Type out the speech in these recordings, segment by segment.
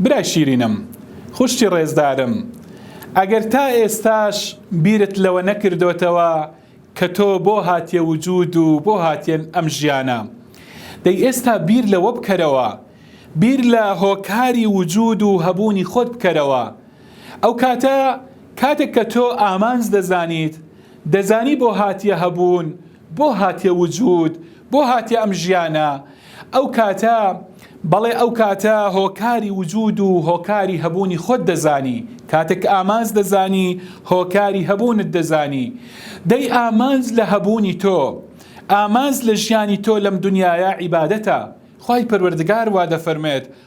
برای شیرینم، خوشکی ڕێزدارم، ئەگەر تا ئێستاش بیرت لەوە نەکردۆتەوە کە تۆ بۆ هاتیە وجود و بۆ هاتیە ئەم ژیانە، دەی ئێستا بیر لەوە بکەرەوە، بیر لە هۆکاری وجود و هەبوونی خۆت بکەرەوە، ئەو کاتە کاتێک کە تۆ ئامانج دەزانیت، دەزانی بۆ هاتیە هەبوون بۆ هاتیە وجود؟ بۆ هاتیە ئەم ژیانە؟ ئەو کاتە، بەڵێ ئەو کاتە هۆکاری وجود و هۆکاری هەبوونی خۆت دەزانی، کاتێک ئامانج دەزانی هۆکاری هەبوونت دەزانی. دەی ئامانج لە هەبوونی تۆ، ئامانج لە ژیانی تۆ لەم دنیایە عیبادەتە. خوای پەروەردگار وا دەفەرموێت،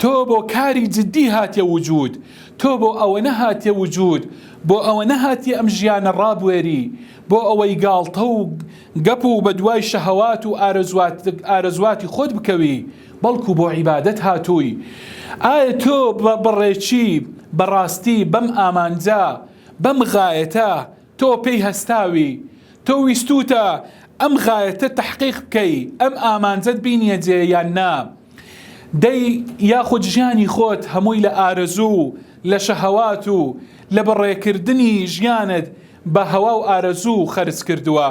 تۆ بۆ کاری جدی هاتیە وجود تۆ بۆ ئەوەنە هاتیە وجود بۆ ئەوەنە هاتیە ئەم ژیانە ڕابوێری بۆ ئەوەی گاڵتە و گەپ و بە دوای شەهەوات و ئارەزواتی خۆت بکەوی بەڵکو بۆ عیبادەت هاتووی ئایا تۆ بە بەڕێکی بەڕاستی بەم ئامانجە بەم غایەتە تۆ پێی هەستاوی، تۆ ویستووتە ئەم غایەتە تەحقیق بکەی، ئەم ئامانجەت بینیە جێ یان نا؟ دەی یاخود ژیانی خۆت هەمووی لە ئارەزوو و لە شەهەوات و لە بە ڕێکردنی ژیانت بە هەوا و ئارەزوو خەرج کردووە؟